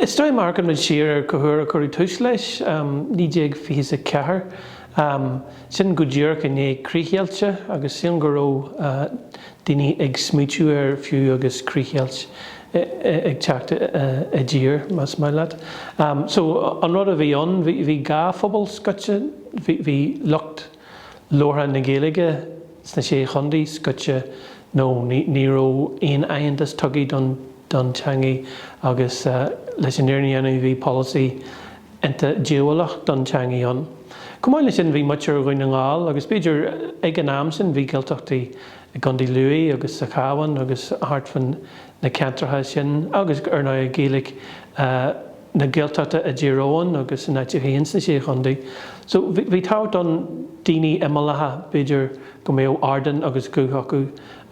Is dóigh má amharcanmid siar ar cá huair a cuireadh tús leis, 1924, sin go díreach i ndiaidh críchdheilte agus sílim go raibh daoine ag smaoitiú air fiú agus críchdheilt ag teacht i dtír, más maith leat. So an rud a bhí ann, bhí dhá phobal scoite, bhí lucht. labhartha na Gaeilge sna Sé Chondae scoite nó ní raibh aon aitheantas tugtha don don teangaidh agus leis an fhírinne a dhéanamh bhí polasaí iontach díobhálach don teangaidh ann. Chomh maith le sin bhí muintir Dhún na nGall agus b'fhéidir ag an am sin bhí Gaeltachtaí i gCondae Lú agus sa Chabhán agus thart fá na ceantracha sin agus ar ndóigh Gaeilge na Gaeltachta i dTír Eoghain agus in áiteacha sna Sé Chontae. So, bhí tábhacht don daoine imeallaithe, b'fhéidir go mbeadh ardán agus guth acu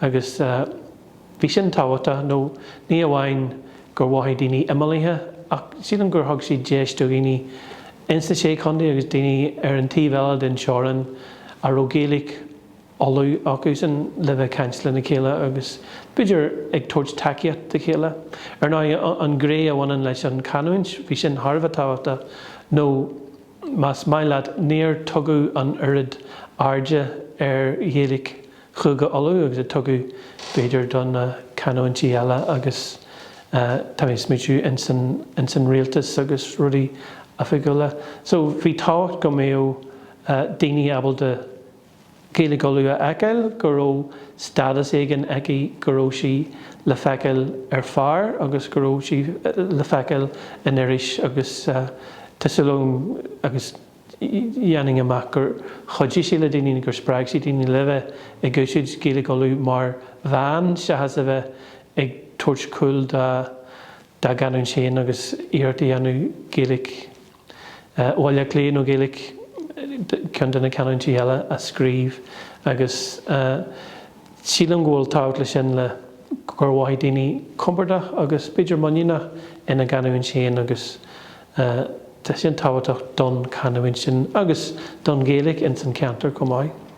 agus bhí sin tábhachtach nó ní amháin gur mhothaigh daoine imeallaithe ach sílim gur thug siad deis do dhaoine ins na Sé Chontae agus daoine ar an taobh eile den teorainn a raibh Gaeilge Uladh acusan le bheith ag caint lena chéile agus b'fhéidir ag tabhairt tacaíocht dá chéile. Ar ndóigh, an ghné a bhaineann leis an chanúint, bhí sin thar a bheith tábhachtach nó más maith leat níor tugadh an oiread airde ar Ghaeilge Chúige Uladh agus a tugadh b'fhéidir do na canúintí eile agus tá mé ag smaoitiú ins an rialtas agus rudaí oifigiúla. So bhí tábhacht go mbeadh daoine ábalta Ghaeilge Uladh a fheiceáil, go raibh stádas éigin aici, go raibh sí le feiceáil ar phár agus go raibh sí le feiceáil in iris agus tá súil agam agus dhéanfainn amach gur chuidigh sí le daoine nó gur spreag sí daoine le bheith ag úsáid Ghaeilge Uladh mar mheán seachas a bheith ag tabhairt cúl dá gcanúint féin agus iarracht a dhéanamh Gaeilge Bhaile Átha Cliath nó Gaeilge ceann de na canúintí eile a scríobh agus sílim go bhfuil tábhacht le sin le gur mhothaigh daoine compordach agus b'fhéidir muiníneach ina gcanúint féin agus tá sin tábhachtach don chanúint sin agus don Ghaeilge ins an cheantar chomh maith.